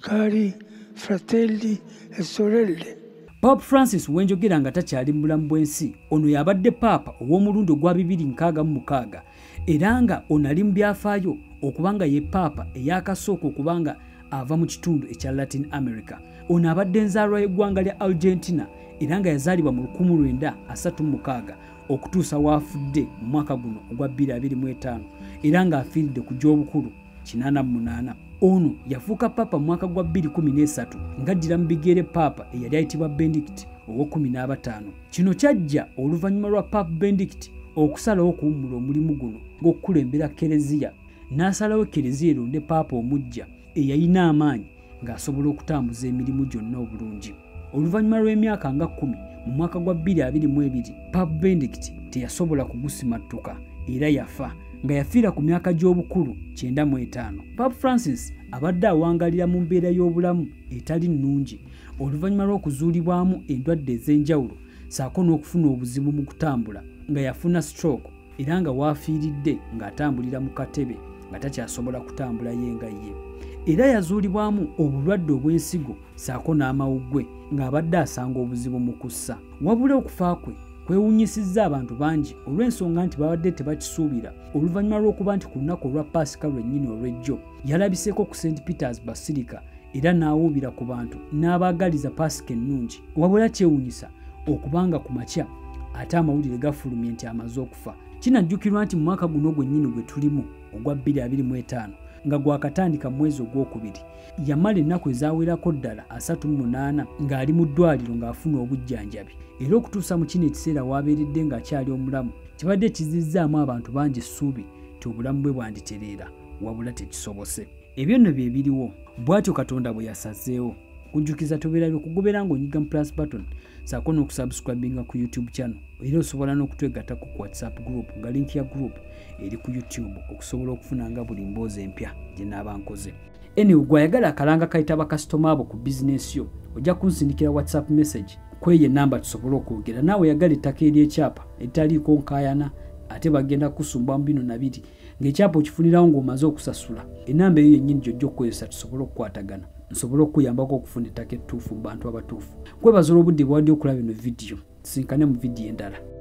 Cari fratelli e sorelle. Pope Francis wenjogera nga takyali mu bulamu bw'ensi ono yabadde paapa ow'omulundi ogwa bibiri nkaaga mu mukaaga era nga ono ali mu byafaayo okuba nga ye paapa eyakasooka okuba nga ava mu kitundu ekya Latin America. Ono abadde enzaalwa y'eggwanga lya Argentina era nga yazaalibwa mu 1936 okutuusa waafudde mu mwaka guno ogwa 2025 era ng'afiiridde ku gy'obukulu. kinaana mu munaana ono yafuuka paapa mu mwaka gwa 213 ng'addira mu bigere paapa eyali ayitibwa bendikiti ow'ekumi n'abataano kino kyajja oluvannyuma lwa paapa bendikiti okusalawo okuwummula omulimu guno ng'okukulembera kereziya n'asalawo kereziya eronde paapa omuggya eyalina amaanyi ng'asobola okutambuza emirimu gyonna obulungi oluvannyuma lw'emyaka nga kkumi mu mwaka gwa 222 pub bendict teyasobola kugusimattuka era yafa nga yafiira ku myaka gy'obukulu 95 pub francis abadde awangalira mu mbeera y'obulamu etali nnungi oluvannyuma lw'okuzuulibwamu endwadde ez'enjawulo saako n'okufuna obuzibu mu kutambula nga yafuna stroke era nga waafiiridde ng'atambulira mu katebe nga takyasobola kutambula ye nga ye era yazuulibwamu obulwadde obw'ensigo saako n'amawuggwe ng'abadde asanga obuzibu mu kussa wabula okufa kwe kwewunyisizza abantu bangi olw'ensonga nti babadde tebakisuubira oluvannyuma lw'okuba nti ku lunaku olwa paasika lwennyini olw'ejjo yalabiseeko ku st peters basirika era n'awuubira ku bantu n'abaagaliza paasika ennungi wabula kyewunyisa okubanga ku makya ate amawulire gafulumye nti amaze okufa kinajjukirwa nti mu mwaka guno gwennyini gwe tulimu ogwa 225 nga gwakatandika mu mwezi ogwokubiri yamala ennaku ezawerako ddala 38 ng'ali mu ddwaliro ng'afuna obujjanjabi era okutuusa mu kino ekiseera waabeeredde ng'akyali omulamu kibadde kizizzaamu abantu bangi essuubi ti obulamu bwe bwanditereera wabula tekisobose ebyo nno bye biriwo bw'atyo katonda bwe yasazeewo kujjukiza tobeera byokugobera ng'onyiga mu plus button saako n'okusubscribinga ku youtube channel era osobola n'okutwegattako ku whatsapp group nga link ya group eri ku youtube okusobola okufuna nga buli mboozi empya gye naaba nkoze anyway gwayagala akalanga kayita bakasitoma abo ku bizinesi yo ojja kunsindikira whatsapp message kweyo enamba tusobole okwogera naawe yagala ettaka ery'ekyapa eritaliiko nkayana ate bagenda kusumba mu bino nabiri ng'ekyapa okifunirawo ng'omaze okusasula enamba eyo yennyini gyojja okukozesa tusobole okukwatagana nsobole okukuyambako okufuna ettaka ettuufu mu bantu abatuufu kwebaza olwobudde bwadi okulaba eno vidiyo tusinkane mu vidiyo endala